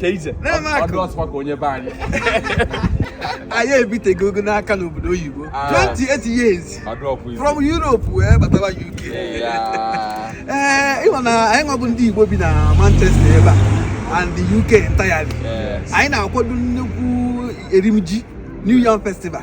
ka ije ọ dị ọsọ ka onye be anyị anyị ebitego ogo n'aka n'obodo oyibo 28 years from Europe wee batawa UK ee ị ma na anyị nwa bụ ndị Igbo bi na Manchester ebe a and the UK entirely anyị na-akwado nnukwu erimji New Yam Festival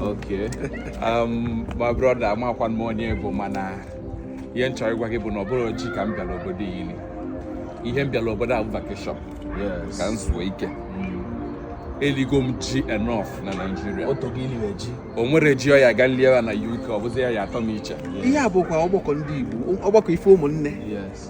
Okay. Um, my brother, amarọkwa m onye ị bụ mana ihe m chọrọ ịgwa gị bụ na ọ bụrọ ji ka m bịara obodo a iri ihe m bịara obodo a bụ vacation ka m zuo ike mm. eligo m ji enough na naijiria o nwere ji ọ ya ga lie ya na uk ọ bụzi ya ya-atọ m iche ihe a bụkwa ọgbakọ ndị igbo ọgbakọ ife ụmụnne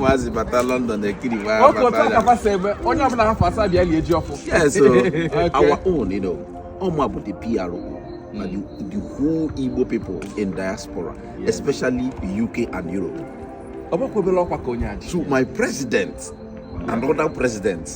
Maazị bata London ekiri nwa Oke otu a ka fa si eme onye ọbụla ha fụ a sị ya bịa lie ji ọfụ. Yes, so our own, you know, ọ mụ bụ the PRO na the, the whole Igbo people in diaspora, yes. especially UK and Europe. Ọ bụrọkwa obele ọkwa ka onye a ji. To my president and other presidents.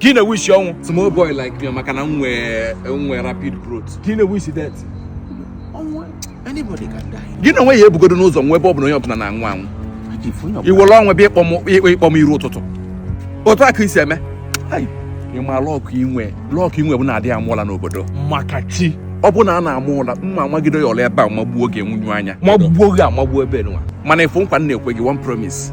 ka ị na-ewishi ọnwụ small boy like me maka na m nwee nwee rapid growth ka ị na-ewishi death ọnwụ anybody can die gị na onwe ya ebugodo m ụzọ nwụọ ebe ọ bụ na onye ọbụla na-anwụ anwụ If onye ọbụla- i were ọnwụ bịa ịkpọ m ịkpọ ịkpọ m iru ụtụtụ otu a ka isi eme Ai, ị ma luck i nwe luck i nwe bụ na a dịghị ama ụla n'obodo maka chi ọ bụ na a na-ama ụla m ma amagide ya ụla ebe a magbuo gị nwunyu anya magbuo gị amagbuo ebe nwa mana ị fụ nkwa m na-ekwe gị one promise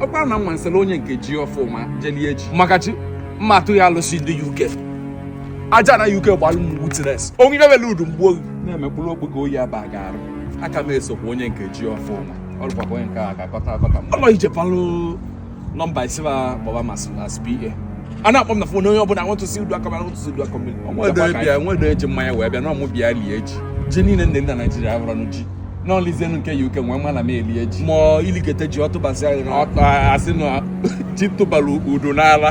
ọkwa na mma nsele onye nke ji ọfụ ma jelie echi makachi m ma atụ ya alụsị ndị uk aja ana uk gbalụ m witness onye mebele udu mgbu oyi na-emekpụrụ okpoko oyi aba ga-arụ aka m esokwa onye nke ji ọfụ ma ọ lụkwakwa onye nke a ga-akọta akọta m ọlọ ije palụ number isiba baba mas as PA a na-akpọ m na phone onye ọbụla want to see udu aka mara want to see Uduakọmmiri nwedo bịa nwedo eji mmanya wee bịa na ọ mụ bịa lie ji ji niile ndị na naijiria abụrọ nụ ji na o lizienụ nke UK nwa mana m elie ji ma i likete ji ọ tụbasị ahịrị ọtọ a sị na ji tụbara Udu n'ala